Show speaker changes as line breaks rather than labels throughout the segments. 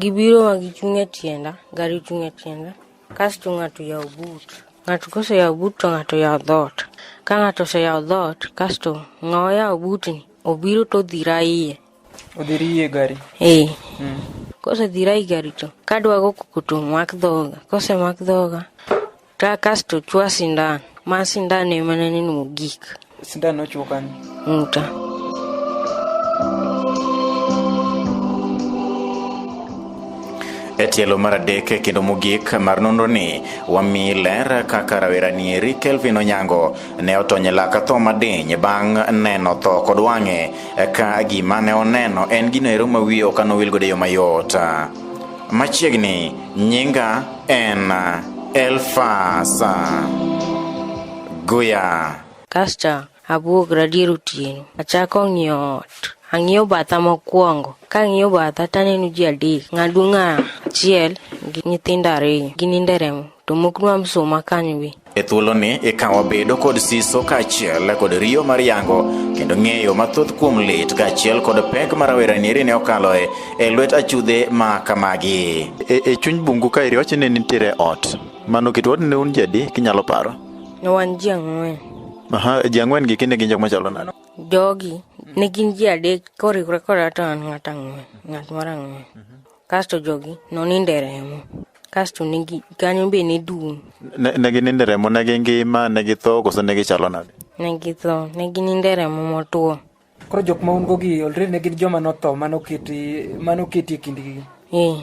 Gibiro ma gichung' e tienda, gari chung' e tienda, kasto ng'ato yawo but. Ng'ato koseyawo but to ng'ato yawo dhoot. Ka ng'ato oseyawo dhoot, kasto ng'awa yawo butni obiro to odhira iye. Odhiri iye gari? Ee. Mm. Kosedhira i gari to kadwago koko to omak dhoga. Kosemak dhoga Ta kasto chwa sindan. Ma sindan ema ne neno mogik. Sindan nochwo kanye? Ng'uta. E tielo mar adek kendo mogik mar nonro ni wami ler kaka rawera nieri Kelvin Onyango ne otony e laka tho madiny bang' neno tho kod wang'e ka gima ne oneno en gino ero ma wiye ok anowil godo e yo mayot. Machiegni nyinga en Elfasa Guya. Kasta abuog radier otieno, achako ng'iyo ot. Ang'iyo batha mokwongo, kang'iyo batha taneno ji adek, ng'aduong' achiel gi nyithindo ariyo ginindo e remo to moknwa msuma kanyo be E thuoloni eka wabedo kod siso kaachiel kod riyo mar yango kendo ng'eyo mathoth kuom lit kaachiel kod pek ma rawera nieri ne okaloe e lwet achudhe ma kamagi. E, e chuny bungu ka iri wacho ni nitiere ot mano kit ot ne un jadi kinyalo paro? Ne wan ji ang'wen. Aha, ji ang'wen gi kinde gin jok machalo nano? Jogi ne gin ji adek koriwre koda to an ng'at ang'wen, ng'at mar ang'wen. kasto jogi noninde remo kasto negi kanyo be ne dum ne ne gininde remo ne gingima ne githo koso ne gichalo nade ne githo ne gininde remo motwo koro jok ma un go gi olre ne gin joma notho manoketi manoketi e kindgi eh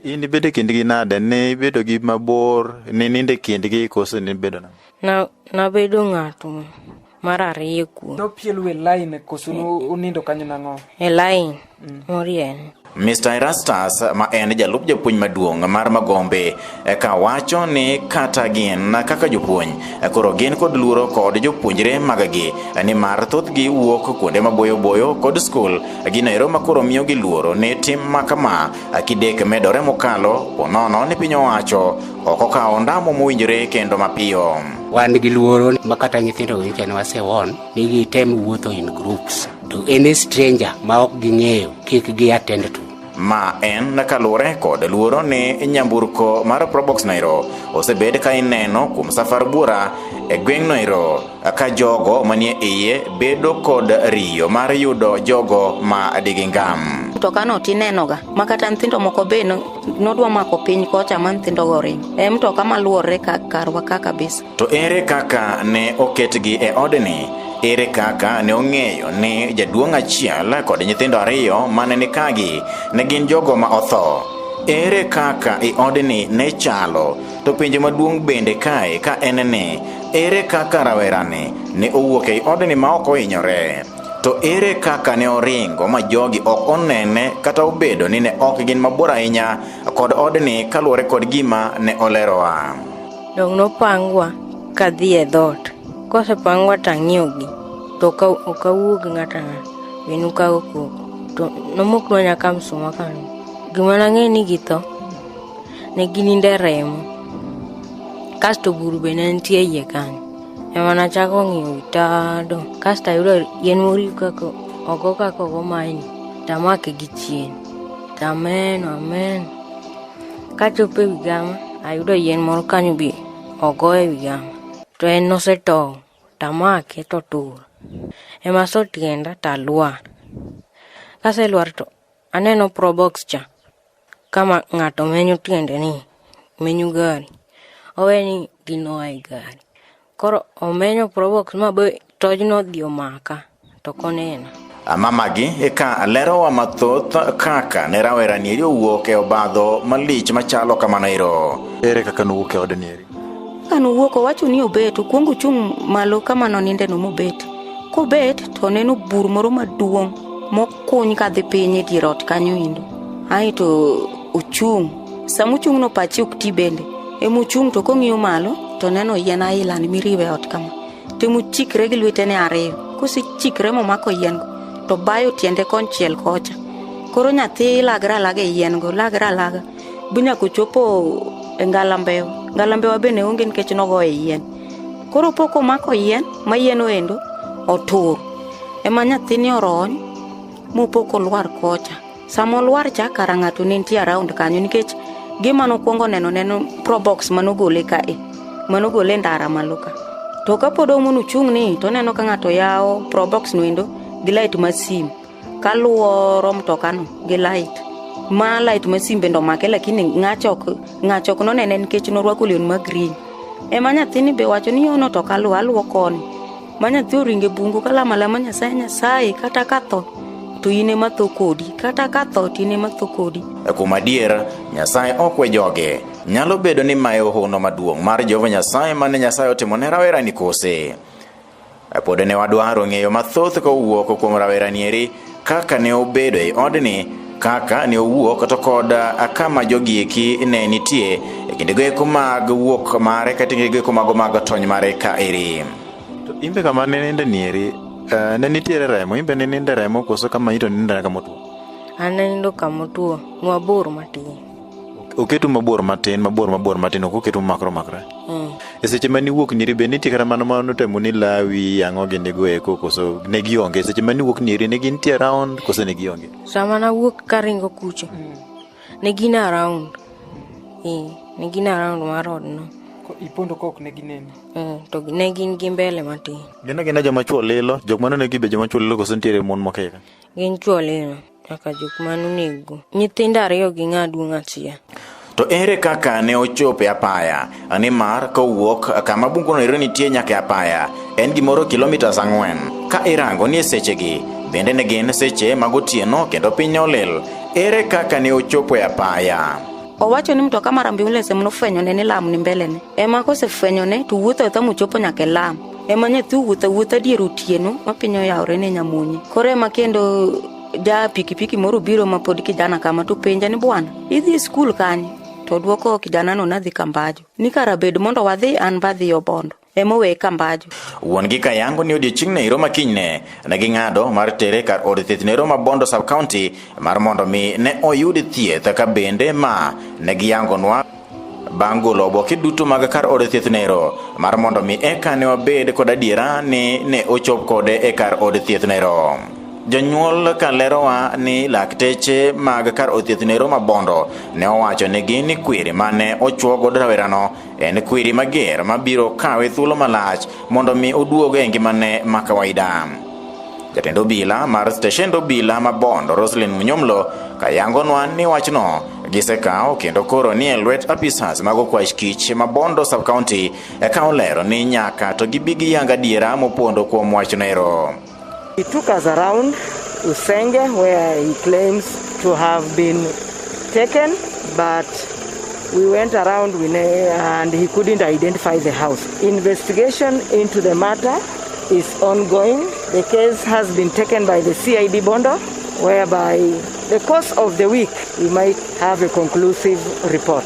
in ibedo e kindgi nade ne ibedo gi mabor ne ninde e kindgi koso ne ibedo nade na nabedo ng'ato mar ariyo kuom nopielu e line koso unindo kanyo nang'o e line mm. morien Mr. Erastus ma en jalup japuonj maduong' mar Magombe eka wacho ni kata gin kaka jopuonj koro gin kod luoro kod jopuonjre magagi ni mar thothgi wuok kuonde maboyo boyo kod skul gino ero ma koro miyo gi luoro ni tim ma kama kidek medore mokalo ponono ni piny owacho ok okawo ondamo mowinjore kendo mapiyo. Wan gi luoro ma kata nyithindo winjo ne wasewon ni gitem wuotho in groups to any stranger ma ok ging'eyo kik gi attend to. Ma en kaluwore kod luoro ni nyamburko mar Probox Nairo osebed ka ineno kuom safar buora e gweng' Nairo ka jogo manie iye bedo kod riyo mar yudo jogo ma digingam. Mtokano tinenoga ma kata nyithindo moko be nodwa mako piny kocha ma nyithindogo ring e mtoka maluorre ka karwa ka kabisa to ere kaka ne oketgi e odni ere kaka ne ong'eyo ni jaduong' achiel kod nyithindo ariyo mane ni kagi ne gin jogo ma otho ere kaka i odni ne chalo to penjo maduong' bende kae ka en ni ere kaka rawerani ne owuok ei odni ma ok ohinyore To ere kaka ne oringo ma jogi ok onene kata obedo ni ne ok gin mabor ahinya kod odni kaluwore kod gima ne olerowa? Dong nopangwa ka dhi e dhoot. Kosepangwa to ang'iyogi to ok awuo gi ng'ato ang'ata. Be nukago koko. To nomoknwa nyaka msuma kanyo. Gima nang'eyo ni githo ne ginindo e remo. Kasto buru be ne nitie e iye kanyo. Ema nachako ng'iyo tado, kasto ayudo yien moriw kaka ogo kaka ogo maini, tamake gi chien. Amen, amen. Kachopo e wi gama, ayudo yien moro kanyo bi ogo e wi gama. To en nosetow, tamake to tur. Ema so tienda talwar. Kaselwar to aneno probox cha, Kama ng'ato menyo tiende ni menyo gari, owe ni gino oa e gari. Koro omenyo probox ma be tojno odhi omaka to ok onena. Mamagi eka lerowa mathoth kaka ne rawera nieri owuok e obadho malich machalo kamano ero. Ere kaka nowuok e od nieri? Ka nowuok owacho ni obet, okuongo ochung' malo kama nonindeno mobet. Kobet to oneno bur moro maduong' mok Kuny ka dhi piny e dier ot kanyo indo. Ae to uchung'. Sama uchung' no pachi ok ti bende. Ema uchung' to kong'iyo malo to neno yien aila ni miriwe e ot kama. Temo chikre gi lwetene ariyo. Kose chikre momako yien go to bayo tiende konchiel kocha. Koro nyathi lagre alaga e yien go, lagre alaga. Bi nyaka ochopo e ngalambewa. Ngalambewa bende onge nikech nogoye yien. Koro po komako yien, ma yien oendo, otur. ema nyathini orony mopok olwar kocha sama olwar cha kara ng'ato ne nitie around kanyo nikech gima nokwongo neno neno probox manogole ka e manogole ndara malo ka to kapod omono chung' ni to neno ka ng'ato yawo probox noendo gi lait ma sim kaluoro mtokano gi lait ma lait ma sim bende omake lakini ng'achok ng'achok nonene nikech norwako leon ma green ema nyathini be wacho ni yono to kaluwo aluwo koni Ma nyathi oringe bungu kalamo alama Nyasaye Nyasaye kata katho to in ema tho kodi kata katho to in ema tho kodi. E kuom adier, Nyasaye ok we joge. Nyalo bedo ni mae ohono maduong' mar Jehova Nyasaye mane Nyasaye otimo ne rawerani kose? E pod ne wadwaro ng'eyo mathoth kowuok kuom rawerani eri Kaka ne obedo e odni, kaka ne owuok to kod kama jogi eki ne nitie e kindego eko mag wuok mare kata e kindego eko mago mag tony mare ka eri. To imbe kama ne ninde nieri, eh, ne nitiere remo, imbe ne ninde remo koso kama ito ninde kama otuo? An nanindo kama otuo, nwabor matin. oketu mabor matin mabor mabor matin ok oketu makro makre mm. e seche ma niwuok nyiri be nitie kata mano ma notemo ni lawi ang'o gi nigo eko koso ne gionge e seche ma niwuok nyiri ne gintie around koso ne gionge sama nawuok ka ringo kucho mm. ne gin around eh, ne gin around mar odno ipondo kok ne gineni mm, to ne gin gi mbele matin gin agina joma chuo lilo jok mano ne gibe joma chuo lilo koso nitiere mon mokeka gin chuo lilo kaka jok manonego nyithindo ariyo gi ng'a duong' achiel To ere kaka ne ochopo e apaya? Nimar kowuok kama bunguno ero nitie nyaka e apaya, en gimoro kilomitas ang'wen. Ka irango ni e sechegi, bende ne gin seche mag otieno kendo piny ne olil. Ere kaka ne ochopo e apaya? Owacho ni mtoka mar ambulance ema nofwenyone ni lam ni mbelene. Ema kosefwenyone to wuotho awuotha mochopo nyaka e lam. Ema nyathi owuotho awuotha dier otieno ma piny oyawore ne nyamonye. Koro ema kendo ja pikipiki moro biro ma pod kijana kama to penja ni bwana idhi e skul kanye to dwoko kijanano nadhi kambajo ni kara bed mondo wadhi an badhi obondo emowe kambajo wuon gi kayango ni odiechieng ne iroma kinyne ne ging'ado mar tere kar od thieth ne roma bondo sub county mar mondo mi ne oyud thieth ka bende ma ne giyangonwa Bang' golo oboke duto mag kar od thieth nero mar mondo mi eka ne wabed kod adiera ni ne ochop kode e kar od thieth nero. Jonyuol ka lerowa ni lakteche mag kar od thieth nero mabondo ne owacho nigi ni kwiri mane ochuo godo rawerano en kwiri mager mabiro kawe thuolo malach mondo mi oduog e ngimane ma kawaida. Jatend obila mar steshend obila ma Bondo Roslyn Munyomlo kayangonwa ni wachno gisekawo kendo koro ni e lwet apisas mag okwach kich ma Bondo sub county eka olero ni nyaka to gibi giyang adiera mopondo kuom wachno ero. He took us around Usenge where he claims to have been taken but we went around and he couldn't identify the house. Investigation into the matter is ongoing. The case has been taken by the CID Bondo, whereby the course of the week we might have a conclusive report.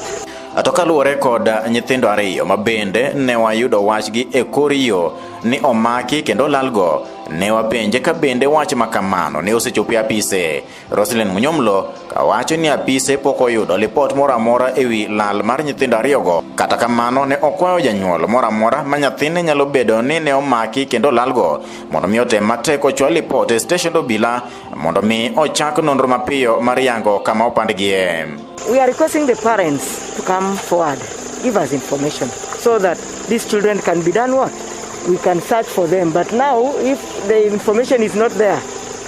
To kaluwore kod nyithindo ariyo ma bende ne wayudo wachgi e kor yo ni omaki kendo lalgo, ne wapenje ka bende wach ma kamano ne osechopo e apise. Roslyn Munyomlo ka wacho ni apise pok oyudo lipot moro amora e wi lal mar nyithindo ariyogo. Kata kamano, ne okwayo janyuol moro amora ma nyathine nyalo bedo ni ne omaki kendo lalgo mondo mi otem matek ochwal lipot e steshend obila mondo mi ochak nonro mapiyo mar yango kama opandgie. We are requesting the parents to come forward, give us information so that these children can be done what? We can search for them. But now, if the information is not there,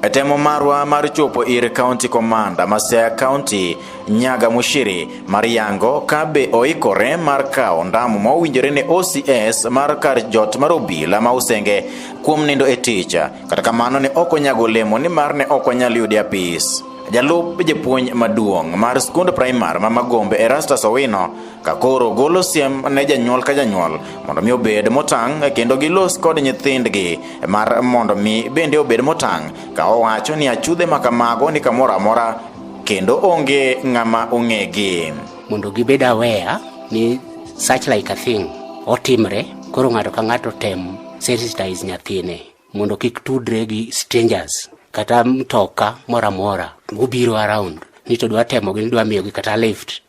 E temo marwa mar chopo ir County Commander ma Siaya County, Nyaga Mushiri, mar yango kabe oikore mar kawo ndamu ma owinjore ne OCS mar kar jot mar obila ma Usenge kuom nindo e tich, kata kamano ne ok onyago olemo ni mar ne ok onyal yude apis. Jalup japuonj maduong' mar skund primar ma Magombe Erastus Owino ka koro golo siem ne janyuol ka janyuol mondo mi obed motang' kendo gilos kod nyithindgi mar mondo mi bende obed motang' ka owacho ni achudhe ma kamago ni kamoro amora kendo onge ng'ama ong'egi mondo gibed aware ni such like a thing otimre koro ng'ato ka ng'ato tem sensitize nyathine mondo kik tudre gi strangers kata mtoka moro amora mobiro around ni to dwa temogi ni dwa miyogi kata lift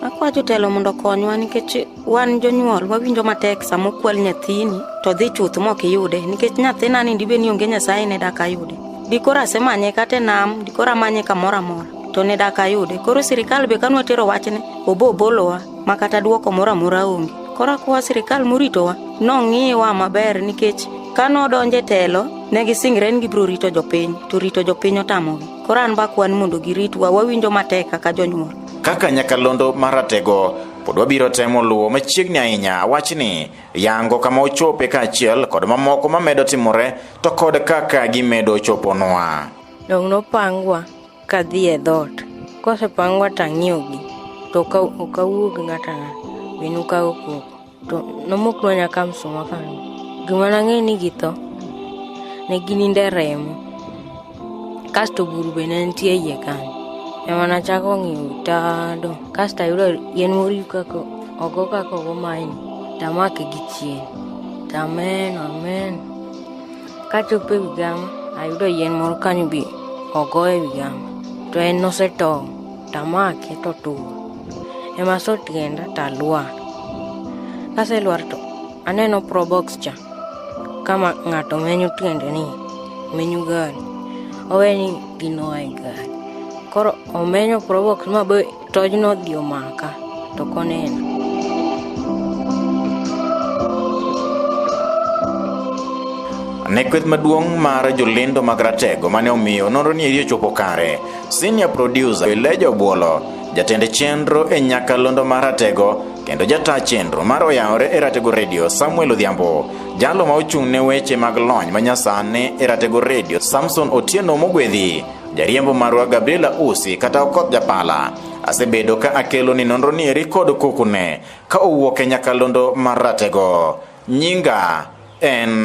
Akwa jotelo mondo okonywa nikech wan jonyuol wawinjo matek sama okwal nyathini to dhi chuth mok iyude nikech nyathina ni dibe ni onge nyasaye ne dak ayude dikoro asemanye kata e nam dikoro amanye kamoro amora to ne dak ayude koro sirikal be kanwa tero wachne obo obolowa ma kata dwoko moro amora onge koro akwa sirikal moritowa nong'iwa maber nikech ka nodonje telo ne gisingre ni gibiro rito jopiny to rito jopiny otamogi koro an bakwan mondo giritwa wawinjo matek kaka jonyuol Kaka nyakalondo maratego pod wabiro temo luwo machiegni ahinya wachni yango kama ochope kaachiel kod mamoko mamedo timore to kod kaka gimedo choponwa dong nopangwa kadhi e dhoot kosepangwa tang'iogi to okawuog ng'ata ng'ata minu kago koko to nomoknwa nyaka msuma kanyo gima nang'eyo ni githo ne gininde remo kasto buru be ne nitie iye kanyo ema nachako ng'iyo tado kasto ayudo yien moriw kaka ogo kaka ogo maini tamake gi chien tamen amen kachopo e wigama ayudo yien moro kanyo be ogo e wigama to en nosetow tamake to tuwo. Ema so tienda talwar. Kaselwar to aneno probox cha kama ng'ato menyo tiende ni menyo gari owe ni gino e gari koro omenyo probox ma be tojno odhi omaka to koneno ne kweth maduong' mar jolendo mag ratego mane omiyo nonro ni eri ochopo kare Senior Producer Eleja Obuolo, jatend chenro e Nyakalondo mar Ratego kendo jataa chenro mar Oyawore e Ratego Radio Samuel Odhiambo, jalo ma ochung' ne weche mag lony manyasani e Ratego Radio Samson Otieno Mogwedhi, jariembo marwa Gabriela Usi kata Okoth Japala. Asebedo ka akelo ni nonro ni eri kod kokune ka owuok e Nyakalondo mar Ratego. Nyinga en